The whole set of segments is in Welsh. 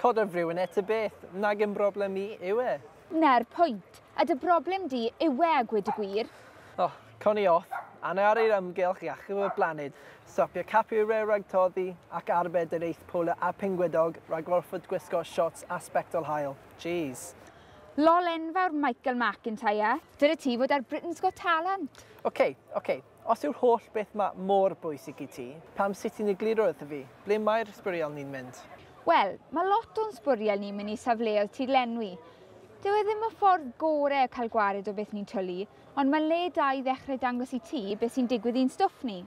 Codo'r friwyn e ta beth. Nag yn broblem i yw e. Na'r pwynt. A dy broblem di yw e a gwyd y gwir. O, cawn ni off, anna ar yr ymgylch i achub y blaned, stopio capu y rew rhag toddi, ac arbed yr eith polar a phingwydog rhag orfod gwisgo siorts a sbectol haul. Jeez. Lol enfawr Michael McIntyre. Dyla ti fod ar Britain's Got Talent. Ok, ok. Os yw'r holl beth ma mor bwysig i ti, pam sut ti'n egluro wrtho fi? Ble mae'r sbwriel ni'n mynd? Wel, ma lot o'n sbwriel ni'n mynd i safleoedd tirlenwi. Dyw e ddim y ffordd gore o cael gwared o beth ni'n twlu, ond ma'n le da i ddechrau dangos i ti beth sy'n digwydd i'n stwff ni.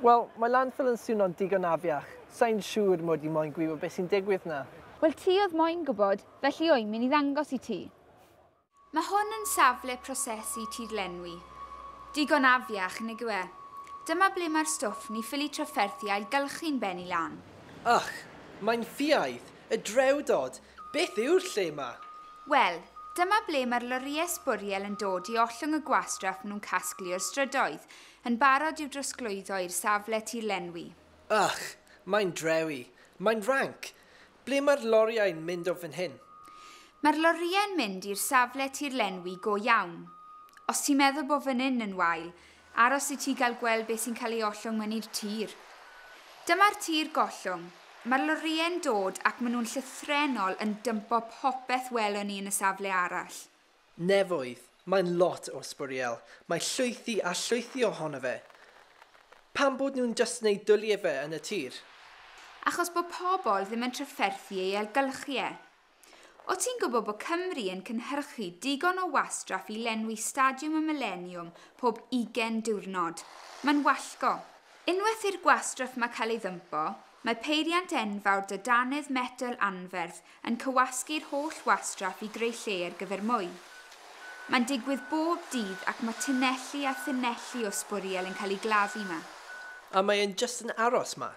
Wel, mae landfill yn swno'n digon afiach, sai'n siŵr mod i moyn gwybod beth sy'n digwydd 'na. Wel, ti oedd moyn gwybod, felly wy'n mynd i ddangos i ti. Mae hwn yn safle prosesu tirlenwi digon afiach, nag yw e? Dyma ble mae'r stwff ni ffili trafferthu ailgylchu'n bennu lan. Ych, mae'n ffiaidd, y drewdod! Beth yw'r lle 'ma? Wel, dyma ble mae'r lorïau sbwriel yn dod i ollwng y gwastraff maen nhw'n casglu o'r strydoedd, yn barod i'w drosglwyddo i'r safle tirlenwi. Ych, mae'n drewi! Mae'n ranc! Ble mae'r lorïau'n mynd o fan hyn? Mae'r lorïau'n mynd i'r safle tirlenwi go iawn. Os ti'n meddwl bo fan hyn yn wael, aros i ti gael gweld be sy'n cael ei ollwng myny'r tir. Dyma'r tir gollwng. Mae'r lorïau'n dod ac maen nhw'n llythrennol yn dympo popeth welon ni yn y safle arall. Nefoedd, mae'n lot o sbwriel. Mae llwythi a llwythi ohono fe. Pam bod nhw'n jyst yn ei dwli fe yn y tir? Achos bod pobl ddim yn trafferthu ei ailgylchu e. O ti'n gwybod bod Cymru yn cynhyrchu digon o wastraff i lenwi Stadiwm y Mileniwm pob ugen diwrnod? Mae'n wallgo. Unwaith i'r gwastraff 'ma cael ei ddympo, Mae peiriant enfawr da dannedd metel anferth yn cywasgu'r holl wastraff i greu lle ar gyfer mwy. Mae'n digwydd bob dydd ac mae tunelli a thunelli o sbwriel yn cael eu gladdu 'ma. A mae e'n jyst yn aros 'ma.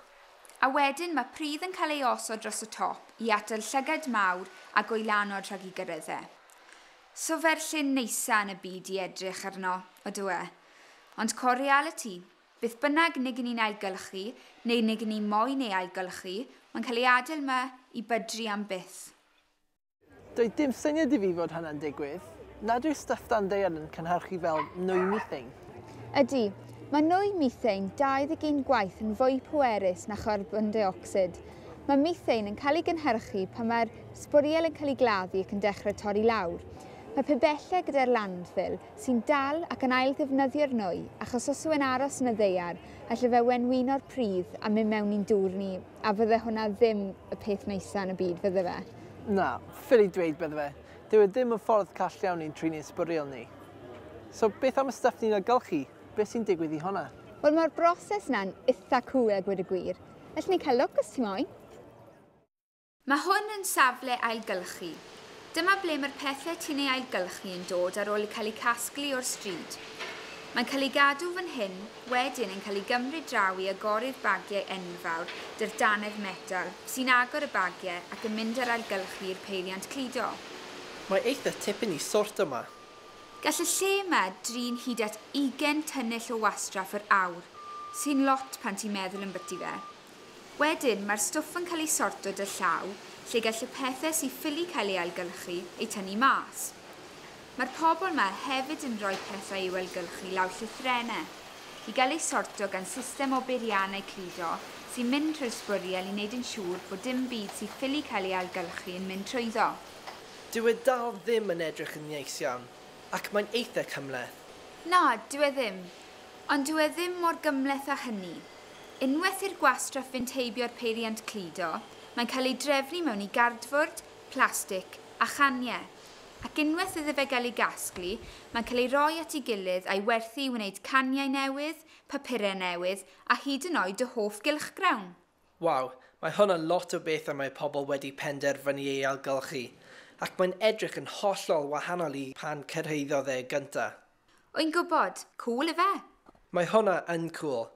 A wedyn mae pridd yn cael ei osod dros y top i atal llygad mawr a goelanod rhag i gyrraedd e. So fe'r llun neisa yn y byd i edrych arno, odyw e. Ond co realiti, Beth bynnag neg ni'n ailgylchu, neu neg ni moyn ei ailgylchu, mae'n cael ei adael 'ma i bydru am byth. Doedd dim syniad i fi fod hynna'n digwydd. Nad yw stwff dan ddaear yn cynhyrchu fel nwy methane? Ydy. Mae nwy methane 21 gwaith yn fwy pwerus na charbon deuocsid. Mae methane yn cael ei gynhyrchu pan mae'r sbwriel yn cael ei gladdu ac yn dechrau torri lawr. Mae pibellau gyda'r landfill sy'n dal ac yn ail-ddefnyddio'r nwy, achos os yw'n aros yn y ddaear, alle fe wenwyno'r pridd a mynd mewn i'n dŵr ni, a fydde hwnna ddim y peth neisa yn y byd, fydde fe? Na, ffili dweud bydde fe. Dyw e ddim yn ffordd call iawn i'n trin ein sbwriel ni. So, beth am y stwff ni'n ailgylchu? Beth sy'n digwydd i hwnna? Wel, mae'r broses yna'n itha' cŵl a gweud y gwir. Allen ni cael lwc os ti moyn. Mae hwn yn safle ailgylchu. Dyma ble mae'r pethau ti'n ei ailgylchu yn dod ar ôl cael eu casglu o'r stryd. Mae'n cael ei gadw fan hyn, wedyn yn cael ei gymryd draw i agoru'r bagiau enfawr 'dy'r dannedd metal, sy'n agor y bagiau ac yn mynd â'r ailgylchu i'r peiriant cludo. Mae eitha tipyn i sort yma. Gall y lle yma drin hyd at ugain tynnell o wastraff yr awr, sy'n lot pan ti'n meddwl ymbyti fe. Wedyn, mae'r stwff yn cael ei sorto dy llaw, lle gall y pethe sy ffili cael ei ailgylchu, eu tynnu mas. Mae'r pobl 'ma hefyd yn rhoi pethau i'w ailgylchu lawr llythrenne, i gael eu sorto gan system o beiriannau cludo sy'n mynd trwy'r sbwriel i wneud yn siŵr bod dim byd sy ffili cael ei ailgylchu yn mynd trwyddo. Dyw e dal ddim yn edrych yn neis iawn, ac mae'n eitha' cymhleth. Na, dyw e ddim. Ond dyw e ddim mor gymhleth â hynny. Unwaith i'r gwastraff fynd heibio'r peiriant cludo, mae'n cael ei drefnu mewn i gardfwrdd, plastig a chaniau. Ac unwaith iddo fe gael ei gasglu, mae'n cael ei roi at ei gilydd a'i werthu i wneud caniau newydd, papurau newydd a hyd yn oed dy hoff gylchgrawn! Waw, mae hwn yn lot o bethau mae pobl wedi penderfynu ei ailgylchu, ac mae'n edrych yn hollol wahanol i pan cyrhaeddodd e gyntaf. Wy'n gwybod! Cŵl ife? Mae hwnna yn cŵl!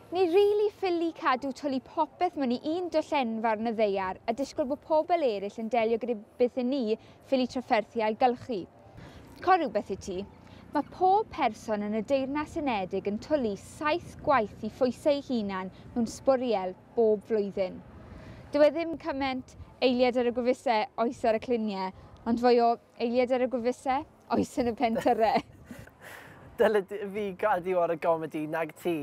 Ni rili ffili cadw twli popeth mewn i un dull enfawr yn y ddaear a disgwyl bod pobl eraill yn delio gyda beth i ni ffili trafferthu ailgylchu. Cor rhywbeth i ti. Mae pob person yn y Deyrnas Unedig yn twli saith gwaith i phwysau eu hunain mewn sbwriel. bob flwyddyn. Dyw e ddim cyment eiliad ar y gwefuse oes ar y clunie, ond fwy o eiliad ar y gwefuse oes yn y pentyre. Dylid fi gadw ar y gomedi nag ti.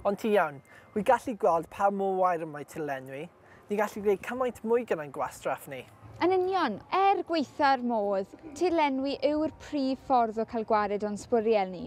Ond ti iawn. Wi gallu gweld pa mor wair y mae ti'n lenwi. Ni gallu gwneud cymaint mwy gyda'n gwastraff ni. Yn union. Er gwaetha'r modd, tirlenwi yw'r prif ffordd o cael gwared o'n sbwriel ni.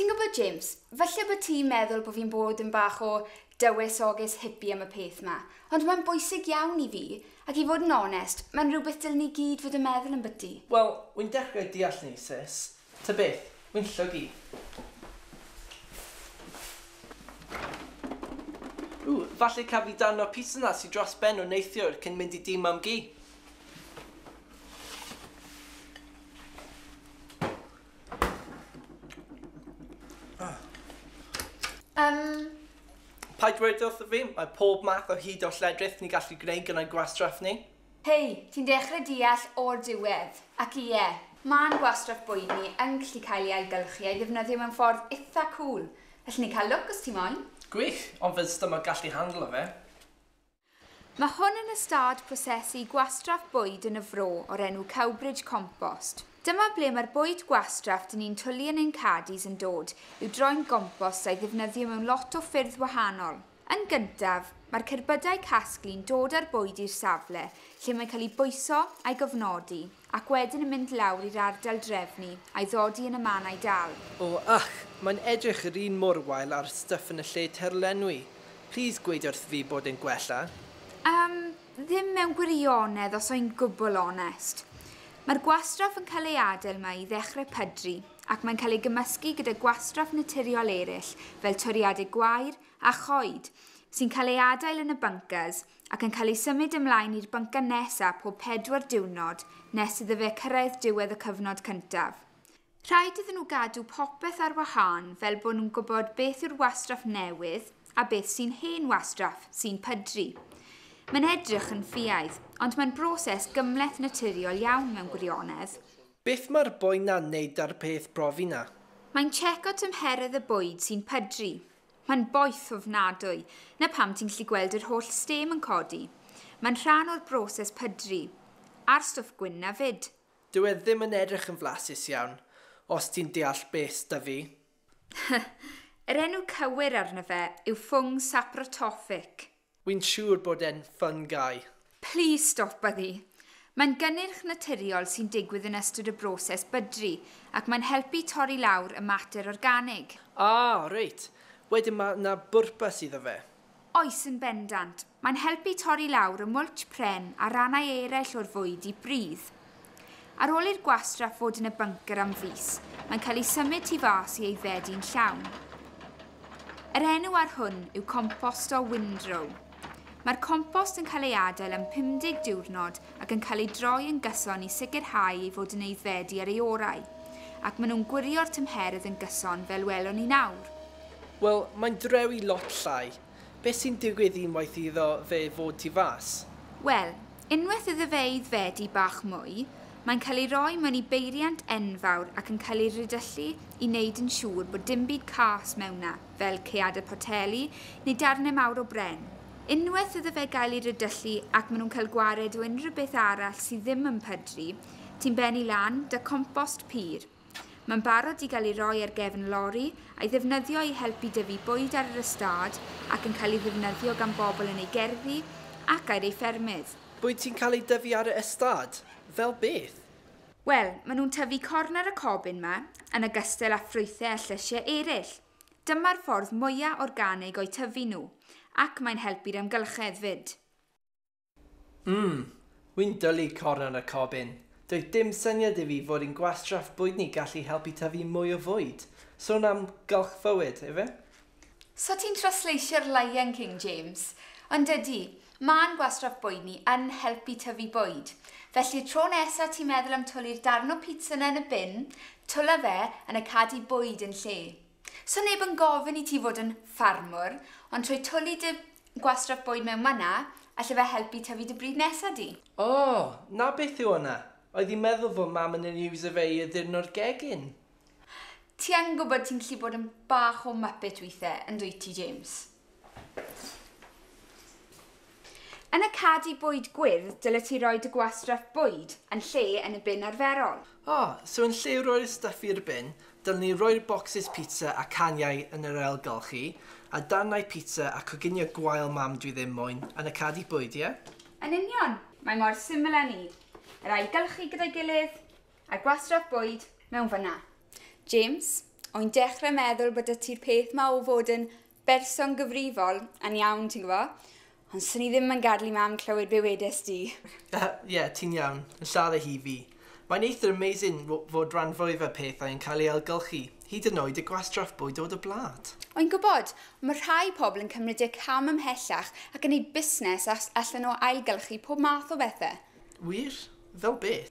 Ti'n gwybod, James, falle bod ti'n meddwl bod fi'n bod yn bach o dywysoges hippie am y peth ma, ond mae'n bwysig iawn i fi, ac i fod yn onest, mae'n rhywbeth dylen ni gyd fod yn meddwl am byti. Wel, wi'n dechrau deall ni, sis. Ta beth, wi'n llwg i. Ww, falle caf fi darn o'r pizza 'na sy dros ben o neithiwr cyn mynd i dŷ Mam-gu. Umm. Paid dweud wrtho fi, mae pob math o hud o lledrith ni'n gallu gwneud gyda'n gwastraff ni. Hei, ti'n dechre deall o'r diwedd. Ac ie, ma'n gwastraff boeni yn gallu cael ei ailgylchu a'i ddefnyddio mewn ffordd itha cŵl. Allen ni cael lwc os ti moyn. Gwych, ond fydd stomach gallu handlo fe? Mae hwn yn ystâd prosesu gwastraff bwyd yn y Fro o'r enw Cowbridge Compost. Dyma ble mae'r bwyd gwastraff dyn ni'n twlu yn ein caddies yn dod i'w droi'n gompost a'i ddefnyddio mewn lot o ffyrdd wahanol. Yn gyntaf, mae'r cerbydau casglu'n dod â'r bwyd i'r safle lle mae'n cael ei bwyso a'i gofnodi ac wedyn yn mynd lawr i'r ardal drefnu a'i ddodi yn y mannau dal. O, ych, mae'n edrych yr un mor wael â'r stwff yn y lle terlenwi. Plîs gweud wrth fi bod e'n gwella. Yym, ddim mewn gwirionedd os âi'n gwbl onest. Mae'r gwastraff yn cael ei adael 'ma i ddechrau pydru ac mae'n cael ei gymysgu gyda gwastraff naturiol eraill fel toriadau gwair a choed, sy'n cael ei adael yn y bunkers ac yn cael ei symud ymlaen i'r bunker nesaf pob pedwar diwrnod nes iddo fe cyrraedd diwedd y cyfnod cyntaf. Rhaid iddyn nhw gadw popeth ar wahân fel bod nhw'n gwybod beth yw'r wastraff newydd a beth sy'n hen wastraff, sy'n pydru. Mae'n edrych yn ffiaidd, ond mae'n broses gymhleth naturiol iawn mewn gwirionedd. Beth mae'r boi na'n neud da'r peth brofi na? Mae'n checo tymheredd y bwyd sy'n pydru. Mae'n boeth ofnadwy. Na pam ti'n gallu gweld yr holl stêm yn codi. Mae'n rhan o'r broses pydru. A'r stwff gwyn na fyd. Dyw e ddim yn edrych yn flasus iawn, os ti'n deall beth 'da fi. Yr enw cywir arno fe yw ffwng saprotoffic. Wi'n siŵr bod e'n fun guy. Plis stop â ddu. Mae'n gynnyrch naturiol sy'n digwydd yn ystod y broses bydru ac mae'n helpu torri lawr y mater organig. Ah, reit. Wedyn ma' 'na bwrpas iddo fe. Oes, yn bendant. Mae'n helpu torri lawr y mwlch pren a rannau eraill o'r fwyd i bridd. Ar ôl i'r gwastraff fod yn y bunker am fis, mae'n cael ei symud tu fas i aeddfedu'n llawn. Yr enw ar hwn yw compost o windrow. Mae'r compost yn cael ei adael am 50 diwrnod ac yn cael ei droi yn gyson i sicrhau ei fod yn aeddfedu ar ei orau, ac maen nhw'n gwirio'r tymheredd yn gyson fel welwn ni nawr. Wel, mae'n drewi lot llai. Beth sy'n digwydd unwaith iddo fe fod tu fas? Wel, unwaith iddo fe aeddfedu bach mwy, mae'n cael ei roi mewn i beiriant enfawr ac yn cael ei ridyllu i wneud yn siŵr bod dim byd cas mewn 'na, fel caeadau poteli neu darnau mawr o bren. Unwaith iddo fe gael ei ridyllu ac maen nhw'n cael gwared o unrhyw beth arall sydd ddim yn pydru, ti'n bennu lan 'da compost pur. Mae'n barod i gael ei roi ar gefn lori, a'i ddefnyddio i helpu dyfu bwyd ar yr ystâd ac yn cael ei ddefnyddio gan bobl yn eu gerddi ac air eu ffermydd. Bwyd sy'n cael ei dyfu ar y ystâd? Fel beth? Wel, maen nhw'n tyfu corn ar y cobyn 'ma, yn ogystal â ffrwythau a llysiau eraill. Dyma'r ffordd mwya' organig o'u tyfu nhw, ac mae'n helpu'r amgylchedd 'fyd. Umm, wi'n dwlu cornel y cob in. Doedd dim syniad i fi fod yn gwastraff bwyd ni gallu helpu tyfu mwy o fwyd. Sôn am gylchfywyd, ife? So ti'n trasleisio'r Lion King, James? Ond ydy, ma'n gwastraff bwyd ni yn helpu tyfu bwyd. Felly'r tro nesa ti'n meddwl am twli'r darn o pizza 'na yn y bin, twla fe yn y cadi bwyd yn lle. 'Sa neb yn gofyn i ti fod yn ffarmwr, ond trwy twli dy gwastraff bwyd mewn man 'na, alle fe helpu tyfu dy bryd nesa di. O! 'na beth yw hwnna! Oedd hi'n meddwl fod Mam yn yn iwso fe i addurno'r gegin. Ti yn gwybod ti'n gallu bod yn bach o muppet withe, yn dwyt ti, James? Yn y cadi bwyd gwyrdd dyle ti roi dy gwastraff bwyd yn lle yn y bin arferol. O! So yn lle rhoi'r stuff i'r bin, dylwn i roi'r bocsys pizza a caniau yn yr ail golchi, a darnau pizza a coginio gwael mam dwi ddim moyn, yn y cadi bwyd, ie? Yn union! Mae mor syml â 'ny. Yr ail gylchu gyda'i gilydd, A gwastraff bwyd mewn fynna. James, oi'n dechre meddwl bod 'da ti'r peth 'ma o fod yn berson gyfrifol yn iawn, ti'n gwbo'? Ond swn i ddim yn gadel i Mam clywed be' wedes di. Yy, ie, ti'n iawn. Yn siarad â hi, fi. Mae'n eithr amazin' w- fod ran fwyaf y pethau yn cael ei ailgylchu, hyd yn oed y gwastraff bwyd o dy blât. Oi'n gwbod, ond ma' rhai pobl yn cymryd y cam ymhellach ac yn neud busnes as- allan o ailgylchu pob math o bethe. Wir? Fel beth?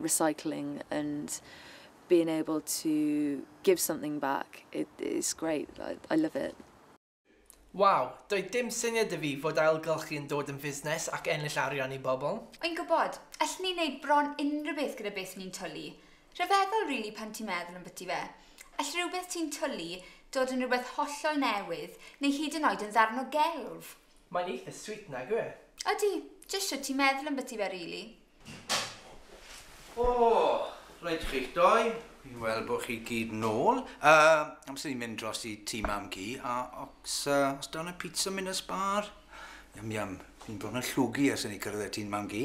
recycling and being able to give something back it it's great I love it. Waw, doedd dim syniad 'da fi fod ailgylchu yn dod yn fusnes ac ennill arian i bobl. Yn gwybod, allen ni wneud bron unrhyw beth gyda beth ni'n twlu. Rhyfeddol rili pan ti'n meddwl ambyty fe. All rhywbeth ti'n twlu dod yn rhywbeth hollol newydd neu hyd yn oed yn ddarn o gelf. Mae'n eitha sweet nag yw e? Ydy, jyst shwt ti'n meddwl ambyty fe rili. O, reit chi'ch doi, fi'n weld bod chi gyd nôl. Uh, amser i mynd dros i tî mam gi, a os, uh, os dawn y pizza mynd y sbar? Yum, yum, fi'n bron yn llwgu ers i ni cyrraedd y tî'n mam gi.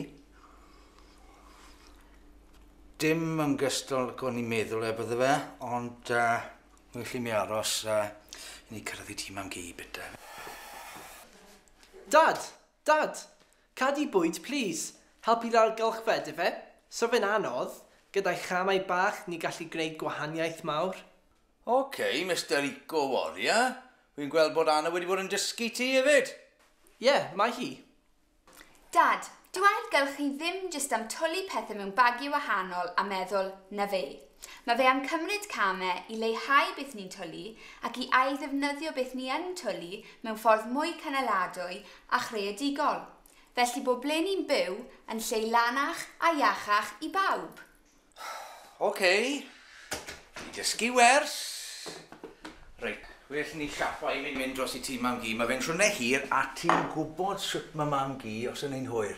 Dim yn gystol ac o'n i'n meddwl e bydde fe, ond uh, well i mi aros uh, i ni cyrraedd i tî mam gi bita. Dad, Dad! Cad i bwyd plîs! Help i lawr gylchfed ife? So fe'n anodd? Gyda'i chamau bach ni gallu gwneud gwahaniaeth mawr. Ok, Mister Eco Warrior, fi'n gweld bod Anna wedi bod yn dysgu ti hefyd! Ie, mae hi. Dad, dyw ailgylchu ddim jyst am twli pethe mewn bagiau wahanol a meddwl, 'na fe. Mae fe am cymryd camau i leihau beth ni'n twlu ac i ailddefnyddio beth ni yn twlu mewn ffordd mwy cynaladwy a chreadigol, felly bod ble ni'n byw yn lle lanach a iachach i bawb. Ok, i dysgu wers. Reit, well ni siaffa i fi'n mynd dros i tŷ Mam-gu, mae fe'n siwrne hir a ti'n gwybod sut mae Mam-gu os yn ein hwyr.